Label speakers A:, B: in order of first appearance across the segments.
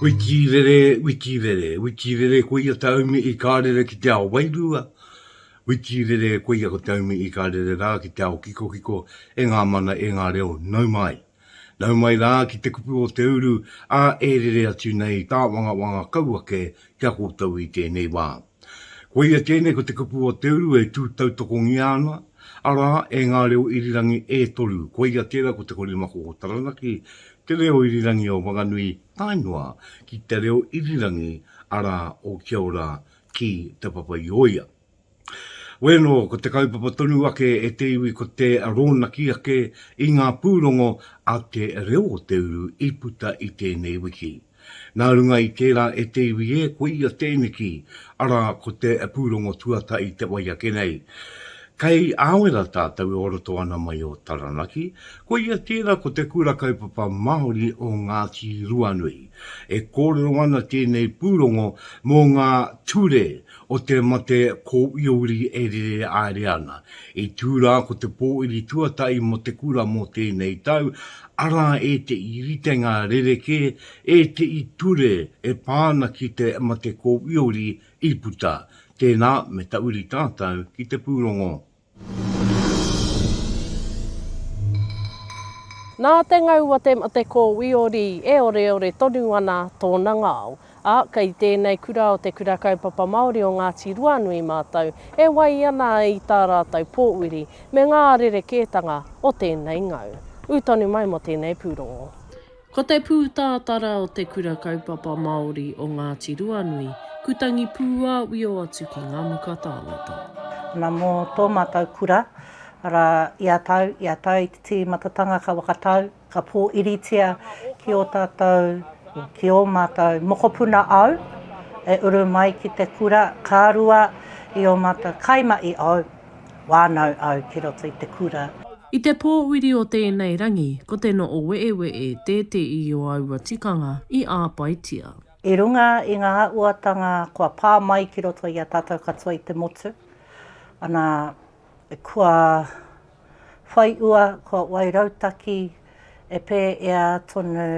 A: Witi rere, witi rere, witi rere ko ia taumi i ka rere ki te ao wairua, witi rere ko ia ko taumi i ka rere rā ki te ao kikokiko e ngā mana e ngā reo nau mai. Nau mai rā ki te kupu o te uru, ā, e rere atu nei tāwangawanga kau ake ki a koutou i tēnei wā. Koia tēnei ko te kupu o te uru e tū tautokongia ana, arā, e ngā reo irirangi e toru, koia tērā ko te korimako o Taranaki, te reo irirangi o Whanganui tae noa ki te reo irirangi, arā, o Kia Ora ki Te Papa-i-ōia. Wēnō, ko te kaupapa tonu ake e te iwi ko te rōnaki ake i ngā pūrongo a te reo o te uru i puta i tēnei wiki. Nā runga i tērā e te iwi e, ko ia tēneki, arā, ko te pūrongo tuatahi te wai ake nei. Kei Āwera tātou e oroto ana mai o Taranaki, ko ia tērā ko te Kura Kaupapa Māori o Ngāti Ruanui. E kōrero ana tēnei pūrongo mō ngā ture O te mate ko Iouri e rere aere ana. I tū rā ko te pōiri tuatahi mō te kura mō tēnei tau, arā ētehi ritenga rerekē, ētehi ture e pā ana ki te mate ko Iouri i puta. Tēnā, me tauri tātou ki te pūrongo.
B: Nā te ngau a te mate kōwiori e oreore tonu ana tōna ngao, ā, kei tēnei kura o Te Kura Kaupapa Māori o Ngāti Ruanui mātou e wai ana i tā rātou pōuri me ngā rerekētanga o tēnei ngau. Ū tonu mai mō tēnei pūrongo. Ko te pūtātara o Te Kura Kaupapa Māori o Ngāti Ruanui, kutangi pūāwio atu ki ngā muka tāngata. Na mo
C: to matou kura, ara, ia tau, ia tau i te tiimatatanga ka wakatau, ka po iritia ki o tatou, ki o matou mokopuna au, e uru mai ki te kura, ka rua i o matou kai ma i au. Wānau au ki roto i te kura. I te pōuri
B: o tēnei rangi, ko te Noo-wee-wee tēteī o aua tikanga i āpaitia. I runga
C: i ngā uatanga kua pā mai ki roto i a tātou katoa i te motu, ana, kua whai ua, kua wai rautaki e pēea tonu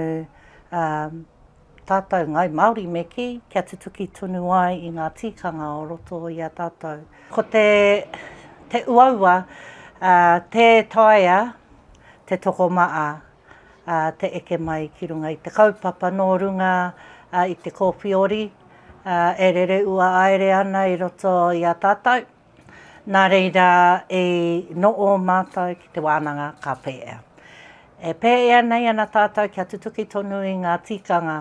C: Tātou ngāi Māori me kī kia tutuki tonu ai i ngā tīkanga o roto i a tātou. Ko te te uaua tē taea te tokomaa te eke mai ki runga i te kaupapa nō runga i te kōwhiori e rere ua aere ana i roto i a tātou. Nā reira i noho mātou ki te wānanga ka pēea. E pēea nei ana tātou kia tutuki tonu i ngā tikanga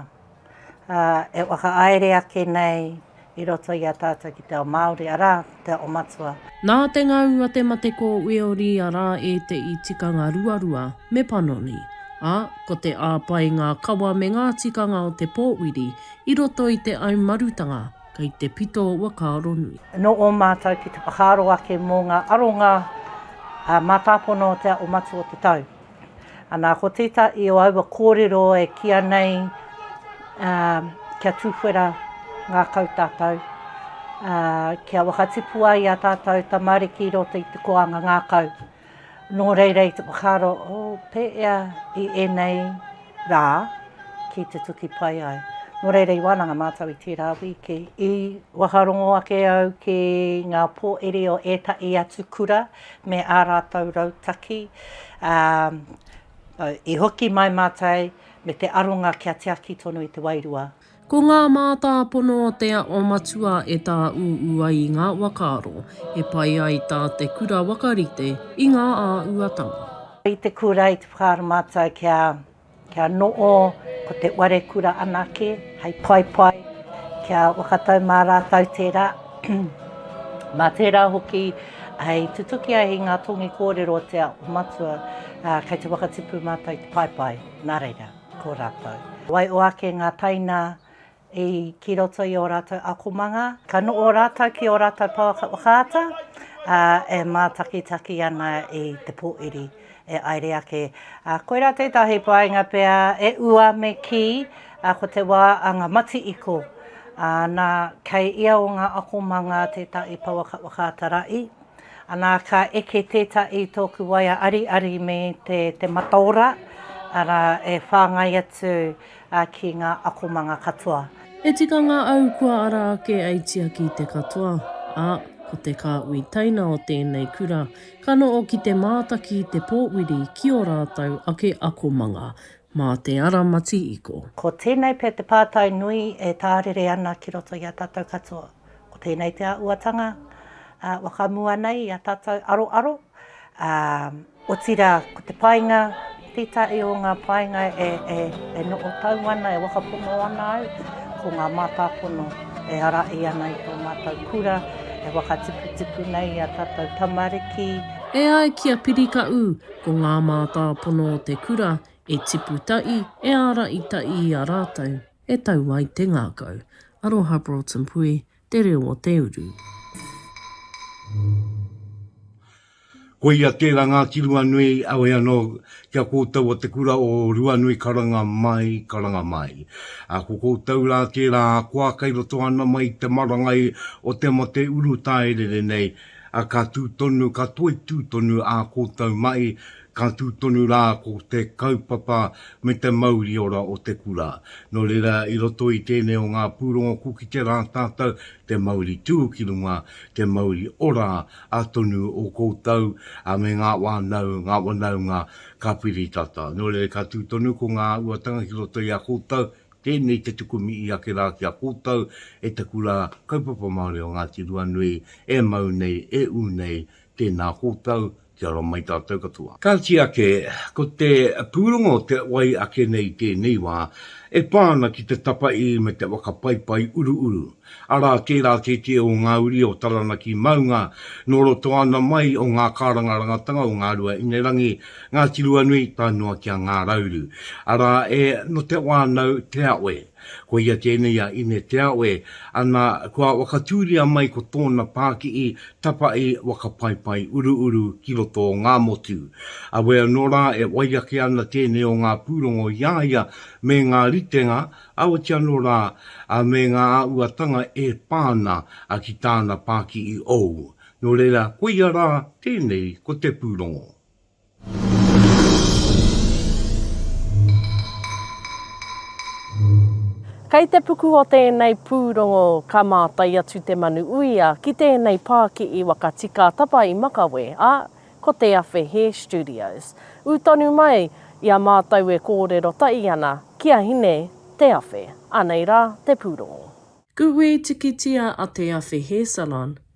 C: e whakahaere ake nei i roto i a tātou ki te ao Māori, arā, te ao matua. Nā te ngau
B: a te mate ko Weori arā ēteʻi tikanga ruarua me panoni, ā, ko te āpae ngā kawa me ngā tikanga o te pōwiri i roto i te au marutanga, kei te pito wa ka aro nui. No o matou
C: ki te whakaaro ake mo nga aronga a matapono o te Aʻo Matua o te Tau. Ana ko teta i o aua korero e kia nei a kia tuwhera ngakau tatou, a kia wakatipu ai a tatou tamariki i roto i te koanga ngakau. Nō reira i te whakaaro o pēea i ēnei rā ki te tuki pai ai. Nō reira i wānanga mātou i tērā wīki, i whakarongo ake au ki ngā pōiri o ētahi atu kura me ā rātou rautaki, ā, i hoki mai mātou me te aronga kia tiaki tonu i te wairua Ko ngā
B: mātāpono o Te Aho Matua e tāūū ai i ngā whakaaro e pai ai tā te kura whakarite i ngā āhuatanga. I te kura,
C: i te whakaaro mātou kia, kia noho ko te whare kura anake hei paepae, kia whakatau mā rātou tērā, mā tērā hoki hei tutuki ai i ngā tongi kōrero o Te Aho Matua, ā, kei te whakatipu mātou i te paepae. Nā reira. Ko ratou. Wai o ake nga taina i ki roto i o ratou akomanga. Ka noo ratou ki o ratou pouaka whakaata, a e matakitaki ana i te poiri e aere ake. Koira tetahi painga pea e ua me ki, ko te wa a nga mati-iko. Na, kei ia o nga akomanga tetahi pouaka whakaata-ra-i. Ana ka eke tetahi toku waea ariari me te mataora, ara e whangai atu ki nga akomanga katoa. He tikanga
B: au kua ara ake ai tiaki te katoa, a, ko te kaui teina o tenei kura, ka noo ki te maataki i te poowiri ki o ratou ake akomanga, ma te ara matiiko. Ko tenei pea te
C: paatai nui e taarere ana ki roto i a tatou katoa. Ko tēnei te āhuatanga whakamua nei i a tātou aroaro, otirā ko te painga, tētahi o ngā painga e noho tau ana, e whakapono ana au, ko ngā mātāpono e ārahi ana i tō mātou kura, e whakatupatupu nei i a tātou tamariki. E ai ki
B: a Piri Kaʻū, ko ngā mātāpono o te kura e tipu taʻi, e ārahi taʻi i a rātou. E tau ai te ngākau. Aroha Broughton Pui, te reo o te uru.
A: Koia tera nga ki Ruanui, awe ano kia koutou o te kura o Ruanui karanga mai, karanga mai. A ko koutou ra tera akoa kei roto ana mai i te marangai o te mate uru taerere nei, a ka tu tonu, ka toitu tonu a koutou mai Ka tū tonu rā ko te kaupapa me te mauri ora o te kura. Nō reira, i roto i tēnei o ngā pūrongo ko kite rā tātou te mauri tū ki runga, te mauri ora a tonu o koutou me ngā wānau, ngā wanaunga ka piri tata. Nō reira, ka tū tonu ko ngā uatanga ki roto i a koutou, tēnei te tukumi i ake rā ki a koutou e te kura Kaupapa Māori o Ngāti Ruanui e mau nei, e ū nei, tēnā koutou, Kia ora mai tātou katoa. Ka tiake, ko te pūrongo o te wai ake nei i tēnei wā, e pā ana ki te tapaī me te whakapaipai uruuru, arā, tērā kētia o ngā uri o Taranaki maunga, nō roto ana mai o ngā kārangarangatanga o Ngāruahinerangi, Ngāti Ruanui tae noa ki a Ngārauru, arā, e, nō Te Whānau, Te Awe. Ko ia tēnei a Ine Te Awe, ana, kua whakatūria mai ko tōna pākihi tapahi waka paepae uruuru ki roto o Ngāmotu. Awe anō rā e wai ake ana tēnei o ngā pūrongo i a ia me ngā ritenga, aoti anō rā, ā, me ngā āhuatanga e pā ana ki tāna pākihi ou. Nō reira, koia rā tēnei ko te pūrongo.
B: Kei te puku o tēnei pūrongo ka mātai atu te manu uia ki tēnei pā ki i Wakatikātapa i Makawe, ā, ko Te Awhe Hair Studios. Ū tonu mai i a mātou e kōrero tahi ana ki a Hine Te Awhe. Anei rā te pūrongo. Kuhui tikitia a Te Awhe Hair Salon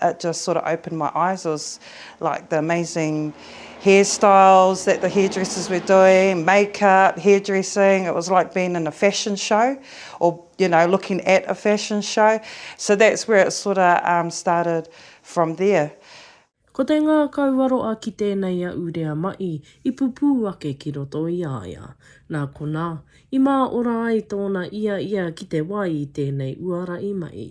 D: It just sort of opened my eyes was like the amazing hair styles that the hairdressers were doing, makeup, hairdressing, it was like being in a fashion show or you know looking at a fashion show so that's where it sort of um started from there. Ko te
B: ngākau aroa ki tēnei a Urea Ma'i i pupū ake ki roto i a ia. Nā konā, i mā ora ai tōna i a ia ki te wai i tēnei uara i Ma'i.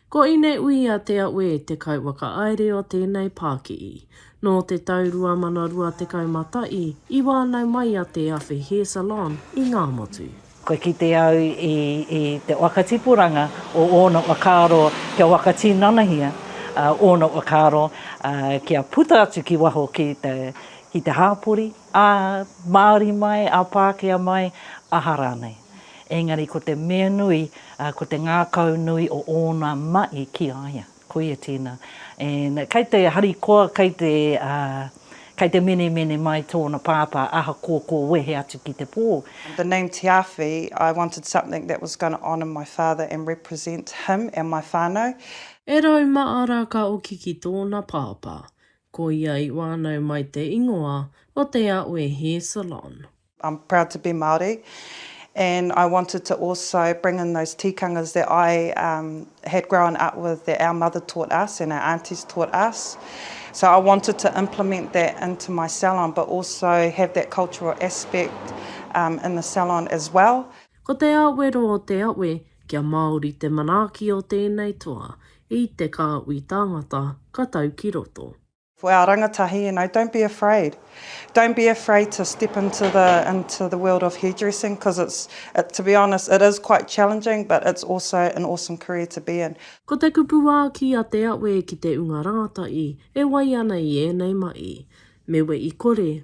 D: Ko Ineuia
B: Te Aue te kauwhakaāere o tēnei pākihi. Nō te tau 2021 i wānau mai a Te Awhi Hair Salon i Ngāmotu. Kua kite au
C: i te whakatipuranga o ōna whakaaro kia whakatinanahia ōna whakaaro kia puta atu ki waho ki te hāpori, Ā Māori mai, ā Pākehā mai, aha rānei. Engari ko te mea nui, ko te ngākau nui o ōna mahi ki a ia. Koia tēnā. And kei te harikoa, kei te, kei te menemene mai tōna pāpā, ahakoa kua wehe atu ki te pō. The name Te Awhi,
D: I wanted something that was going to honour my father and represent him and my whānau. E Rau
B: Maara ka oki ki tōna pāpā. Ko ia i wānau mai te ingoa o Te
D: Aue
B: Hair Salon.
D: I'm
B: proud to
D: be
B: Māori and
D: I wanted to also bring in those tikangas that I had grown up with that our mother taught us and our aunties taught us so I wanted to implement that into my salon but also have that cultural aspect in the salon as well. Ko te awero
B: o Te Aue, kia Māori te manaaki o tēnei toa, I te kāhui tāngata ka tau ki roto. For our rangatahi,
D: you know, don't be afraid. Don't be afraid to step into the into the world of hairdressing because it's it to be honest, it is quite challenging but it's also an awesome career to be in. Ko te kupu wāki
B: a Te Awe ki te unga rangatahi e wai ana i ēnei mahi, Me we i kore,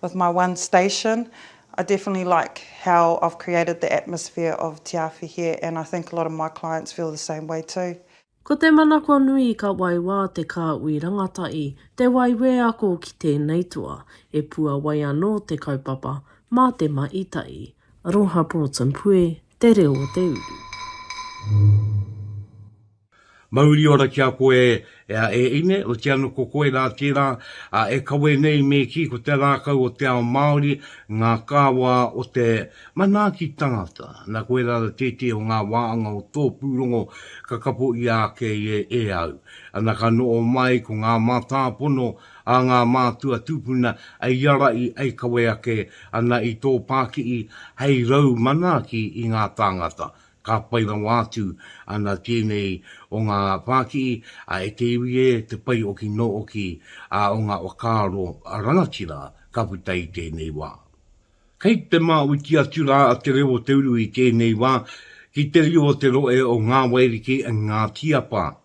D: With my one station I definitely like how I've created the atmosphere of Te Awhi here and I think a lot of my clients feel the same way too. Ko te manako
B: nui ka waiwā te kāhui rangatahi, te waiwē ako ki tēnei toa, e puawai anō te kaupapa mā te mahi tahi. Aroha Ports and Pue, te reo o te uru.
A: Mauri ora ki a koe e a e ine, o te ano ko koe ra tera a e kawe nei me ki ko te rakau o te ao Maori nga kawa o te manaaki tangata, na koe ra ra tete o nga waanga o to purongo ka kapo ia ake i e au, ana ka noo mai ko nga matapono a nga matua tupuna ei arai ei kawe ake ana i to pakii hei rau manaaki i nga tangata, Ka pai rawa atu ana tēnei o ngā whākihi a e te iwi e te pai oki nō oki a o ngā whakaaro rangatira ka puta i tēnei wā. Kei te māuiti atu rā a Te Reo o Te Uru i tēnei wā ki te riro o te rohe o Ngā Wairiki Ngāti Apa.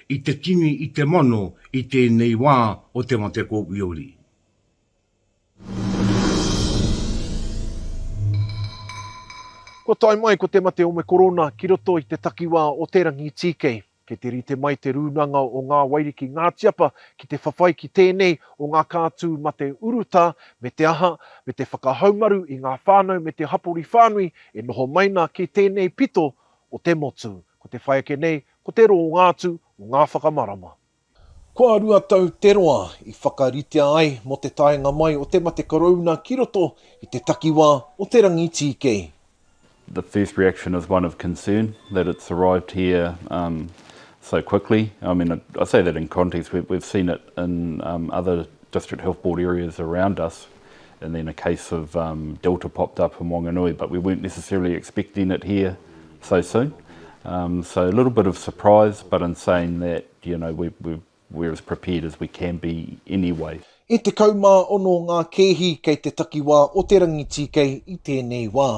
A: i te tini i te mano i tēnei wā o te mate kōwhiori.
E: Kua tae mai ko te mate o me korona ki roto i te takiwā o Te Rangitīkei. Kei te rite mai te rūnanga o Ngā Wairiki Ngātiapa ki te whawhai ki tēnei o ngā kātū mate urutā me te aha, me te whakahaumaru i ngā whānau me te hapori whānui e noho mai na ki tēnei pito o te motu. Ko te whai ake nei Ko te roa o ngā tū o ngā whakamarama. Kua rua tau te roa i whakaritea ai mō te taenga mai o te mate korouna ki roto i te takiwā o Te Rangitīkei. The
F: first reaction is one of concern that it's arrived here so quickly. I mean, I say that in context, we've seen it in other district health board areas around us. and then a case of um, Delta popped up in Wanganui, but we weren't necessarily expecting it here so soon. Um, so a little bit of surprise, but in saying that, you know, we, we, we're as prepared as we can be anyway. E te kaumā
E: ono ngā kēhi kei te takiwā o te rangitīkei i tēnei wā.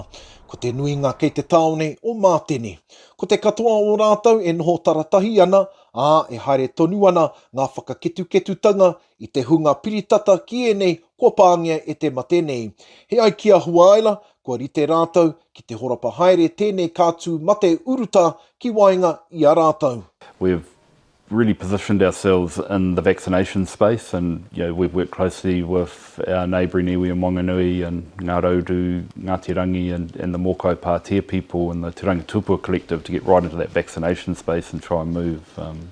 E: Ko te nuinga kei te tāone o Mātene. Ko te katoa o rātou e noho taratahi ana, ā, e haere tonu ana ngā whakaketuketutanga I te hunga piritata ki ēnei kua pāngia e te mate nei. He ai ki a Huaela, kua rite rātou ki te horapa haere tēnei kātū mate urutā ki waenga i a rātou. We've
F: really positioned ourselves in the vaccination space and you know we've worked closely with our neighbouring iwi in Wanganui and Ngā Rauru, Ngāti Rangi and and the Mōkai Pātea people and the Te Rangi Tupua Collective to get right into that vaccination space and try and move um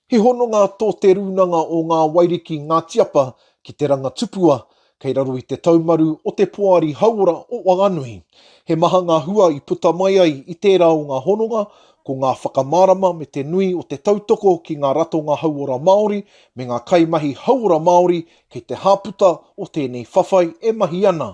F: He hononga
E: tō Te Rūnanga o Ngā Wairiki Ngā Tiapa ki te ranga tupua kei raro i te taumaru o te Poari Hauora o Whanganui. He maha ngā hua i puta mai ai i tērā o ngā hononga, ko ngā whakamārama me te nui o te tautoko ki ngā ratonga hauora Māori me ngā kaimahi hauora Māori kei te hāputa o tēnei whawhai e mahi ana.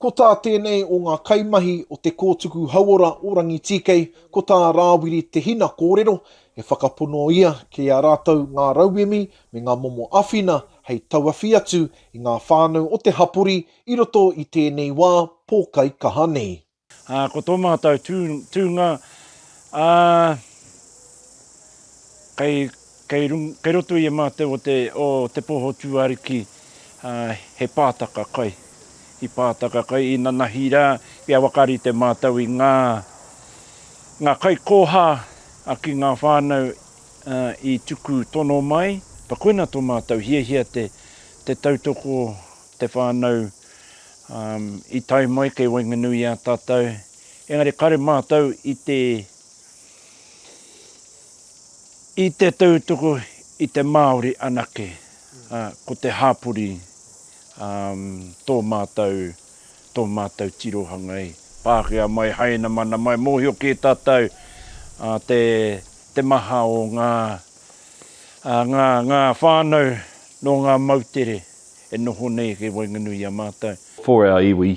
F: Ko tā tēnei
E: o ngā kaimahi o te kōtuku hauora o Rangitīkei, ko tā Rāwiri Te Hina kōrero, e whakapono ia ki a rātou ngā rauemi me ngā momo awhina hei tauawhi atu i ngā whānau o te hapori i roto i tēnei wā pōkai kaha nei. Ā, ko tō
G: mātou tūnga, ā, kei Kei kei roto i a mātou o te o te poho tūāruki he pātaka kai, i pātaka kai, inanahi rā kia wakarite mātou i ngā ngā kaikōhā ki ngā whānau i tuku tono mai. Ka koina tō mātou hiahia te te tautoko te whānau i tae mai kei waenganui i a tātou, engari kare mātou i te I te tautuku i te Māori anake, ko te hapori tō mātou, tō mātou tirohanga e. Pākehā mai, Hainamana mai, mōhio kē tātou te maha o ngā, ngā, ngā whānau nō ngā moutere e noho nei kei waenganui i a mātou. For our iwi,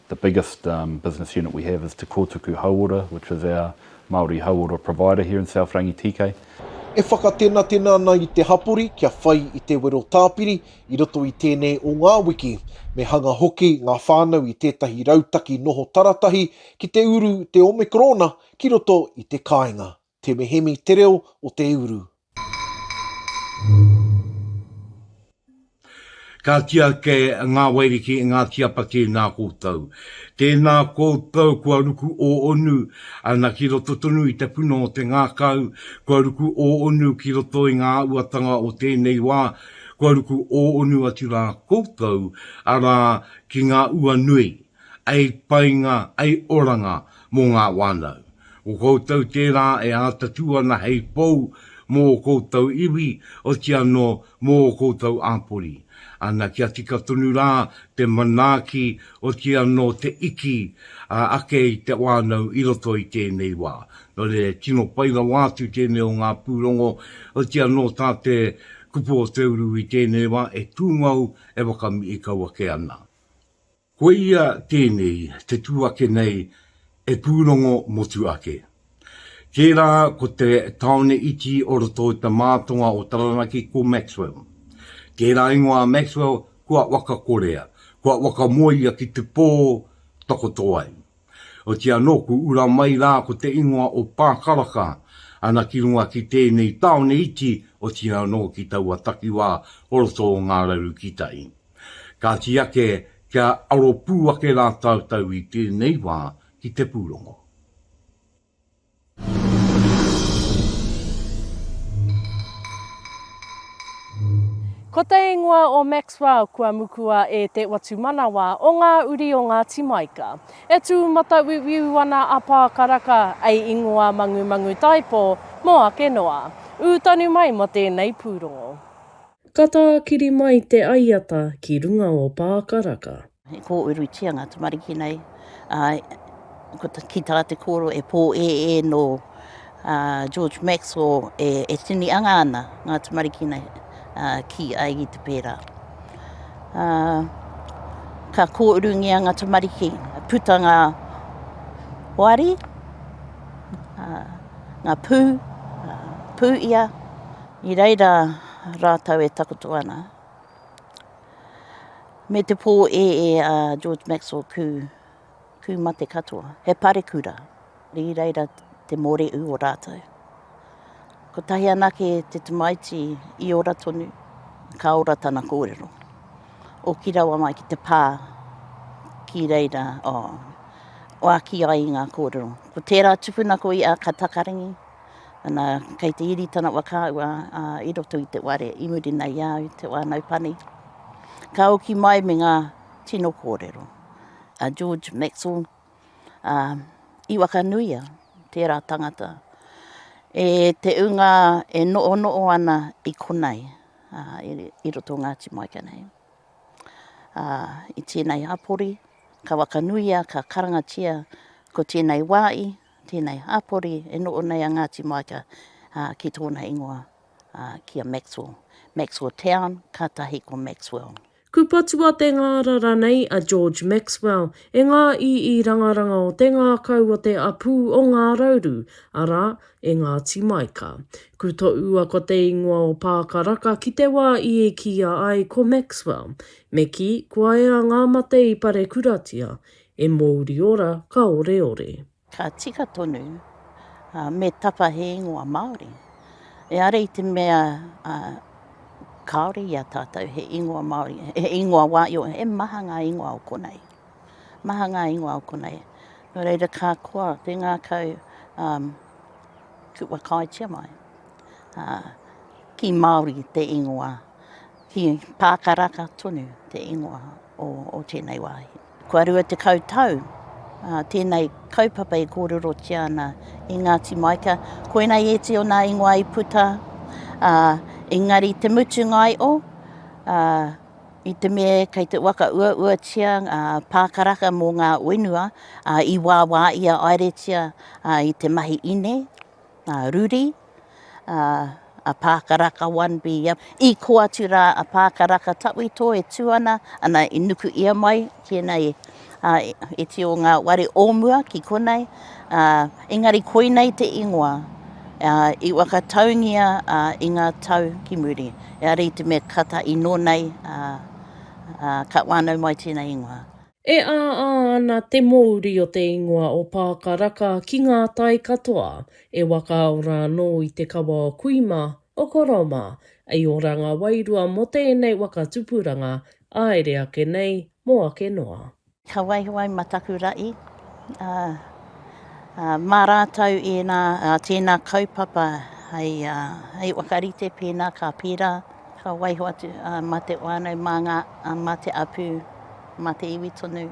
F: The biggest business unit we have is Te Kōtuku Hauora, which is our Māori hauora provider here in South Rangitīkei. E
E: whakatenatena ana i te hapori kia whai i te wero tāpiri i roto i tēnei o ngā wiki. Me hanga hoki ngā whānau i tētahi rautaki noho taratahi ki te uru te Omekorona ki roto i te kāinga. Te Mehemi te reo o te uru.
A: Ka kīa kē ngā Wairiki i ngā tiapa ki nā koutou. Tēnā koutou kua ruku ōonu ana ki roto tonu i te puna o te ngākau, kua ruku ōonu ki roto i ngā uatanga o tēnei wā, kua ruku ōonu atu rā koutou, arā, ki ngā ua nui. Ai painga, ai oranga mō ngā whānau. Ko koutou tērā e ātatū ana hei pou mō ō koutou iwi, oti anō mō ō koutou āpori. Ana kia tika tonu rā te manaaki, oti anō te iki ake i te whānau i roto i tēnei wā. Nō reira, tino pai rawa atu tēnei o ngā pūrongo, oti anō tā te kupu o te uru i tēnei wā, e tūngou, e whakamihi kau ake ana. Koia tēnei te tū ake nei e pūrongo motu ake. Tērā ko te tāone iti o roto i te mātonga o Taranaki ko Maxwell. Tērā ingoa a Maxwell kua wakakorea, kua wakamoea ki te pō takoto ai. Otia nōku ura mai rā ko te ingoa o Pākaraka, ana ki runga ki tēnei tāone iti, otirā anō ki taua takiwā o roto o Ngā Raru ki tai. Kāti ake kia aro pū ake rā tātou i tēnei wā ki te pūrongo.
B: Ko te ingoa o Maxwell kua mukua e te Watumanawa o ngā uri o Ngāti Maika. E tū matauiuiu ana a Pākaraka ei ingoa mangumangu taipō mō ake noa. Ū tonu mai mō tēnei pūrongo. Ka tākiri mai te aiata ki runga o Pākaraka. He
C: kōurutia ngā tamariki nei, ā, ki tā te kōrero e pōēē nō George Maxwell e, e tini anga ana ngā tamariki nei ā, ki a i te pērā. Ā, ka kōurungia ngā tamariki, puta ngā wāri, ā, ngā pū, ā, pū ia, i reira rātou e takoto ana. me te pō ēē a George Maxwell kū, kū mate katoa. He parekura, rī reira te mōreū o rātou. Kotahi anake te tamaiti i ora tonu, ka ora tana kōrero. Oki rawa mai ki te pā, ki reira, oh, wāki ai i ngā kōrero. Ko tērā tupuna ko ia ka takarangi, Ana, kei te iri tana wa kaua a, i roto i te ware, i muri nei au, te wānau pani. Ka oki mai me ngā tino kōrero. A George Maxwell, a, i wakanuia tērā tangata e te unga e noo noo ana i konei, a, i, i roto Ngāti Maika nei. A, i tēnei hapori, ka wakanuia, ka karangatia ko tēnei wāi, Tēnei hāpori e noho nei a Ngāti Maika ki tōna ingoa, ki a Maxwell. Maxwell Town, kātahi ko Maxwell. Kupatua te
B: ngāra ranei a George Maxwell e ngā ii rangaranga o te ngākau o te apū o Ngā Rauru, arā, e Ngāti Maika. Ku toʻua ko te ingoa o Pākaraka ki te wā i e kīia ai ko Maxwell. Me kī, kua ea ngā mate i parekuratia, E mōuri ora ka oreore. Ka tika
C: tonu, ā, me tapa he ingoa Māori. Eāre i te mea, ā, kāore i a tātou he ingoa Māori, he ingoa wāio, he maha ngā ingoa o konei. Maha ngā ingoa o konei. Nō reira, ka koa te ngākau, ā, kua kāetia mai, ā, ki Māori te ingoa. He pā karaka tonu te ingoa o tēnei wāhi. Kua rua tekau tau tēnei kaupapa e kōrerotia ana i Ngāti Maika. Koinei ēti o nā ingoa i puta, engari te mutunga ai o, i te mea kei te waka uauatia ngā pā karaka mō ngā whenua i wāwā ia aeretia i te mahi ine, a Ruri, a Pākaraka one be young, i kō atu rā a Pākaraka Tawhito e tū ana, ana i nuku ia mai ki ēnei iti o ngā wāri o mua ki konei, engari koinei te ingoa i whakataungia i ngā tau ki muri, eari i te mea ka tahi nō nei ka whānau mai tēnei ingoa. E āā
B: ana te mōuri o te ingoa o Pākaraka ki ngā tai katoa, e wakaao rānō i te kawa o kui mā, o koro mā, i ora ngā wairua mō tēnei waka tupuranga, āere ake nei, mō ake noa. Ka waiho ai
C: ma taku raʻi, a, a, ma ratou ena, a, tena kaupapa hei, a, hei whakarite pena ka pera Ka waiho atu a Mate whānau mā ngā a Mate apū, Mate iwi tonu.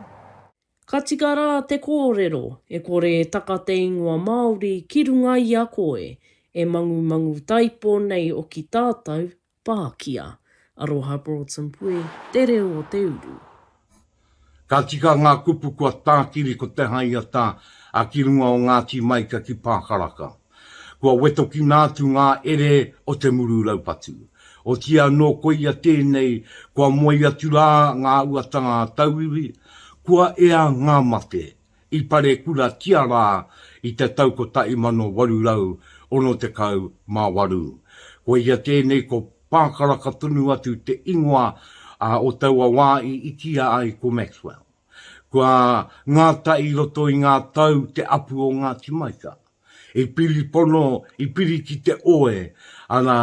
C: Ka
B: tika rā te kōrero, e kore e taka te ingoa Māori ki runga i a koe, e mangumangu taipo nei o ki tātou, Pākia. Aroha Broughton Puhi, Te Reo o te Uru.
A: Ka tika ngā kupu kua tākiri ko Te Haiata a ki runga o Ngāti Maika ki Pākaraka. Kua wetokina atu ngā ere o te muru raupatu. Otiia anō koia tēnei kua moe atu rā ngā uatanga a tauiwi, kua ea ngā mate i Parekuratia rā i te tau 1868. Koia tēnei ko Pākaraka tonu atu te ingoa o taua wā i itia ai ko Maxwell. Kua ngata i roto i ngā tau te apu o Ngāti Maika. I piri pono, i piri ki te oe ana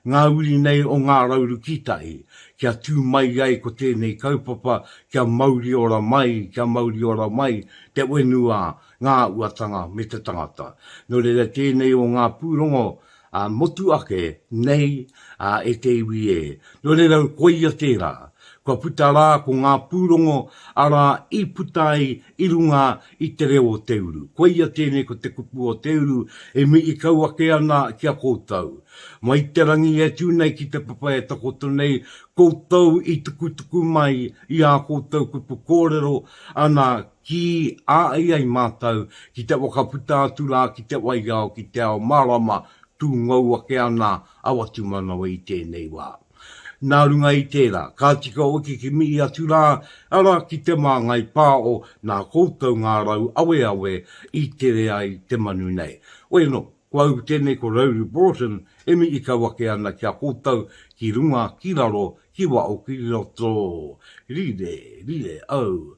A: ngā uri nei o Ngā Rauru Kītahi, kia tū mai ai ko tēnei kaupapa kia mauri ora mai, kia mauri ora mai te whenua, ngā uatanga me te tangata. Nō reira tēnei o ngā pūrongo Ā, motu ake nei, ā, e te iwi ē. Nō reira, koia tērā. Kua puta rā ko ngā pūrongo, arā, i puta ai i runga i te reo o te uru. Koia tēnei ko te kupu o te uru e mihi kau ake ana ki a koutou. Mai te rangi e tū nei ki te papa e takoto nei, koutou i tukutuku mai i ā koutou kupu kōrero, ana, Ki a i ai mātou ki te whakaputa atu rā ki te waiao ki te ao mārama, tū ngou ake ana a Watumanawa i tēnei wā. Nā runga i tērā, ka tika hoki ki mihi atu rā, arā, ki Te Māngai Pāo, nā koutou ngā rau aweawe i tere ai te manu nei. Weno, ko au tēnei ko Rowley Broughton e mihi kau ake ana ki a koutou, ki runga, ki raro, ki waho, ki roto. Rire, rire, oh.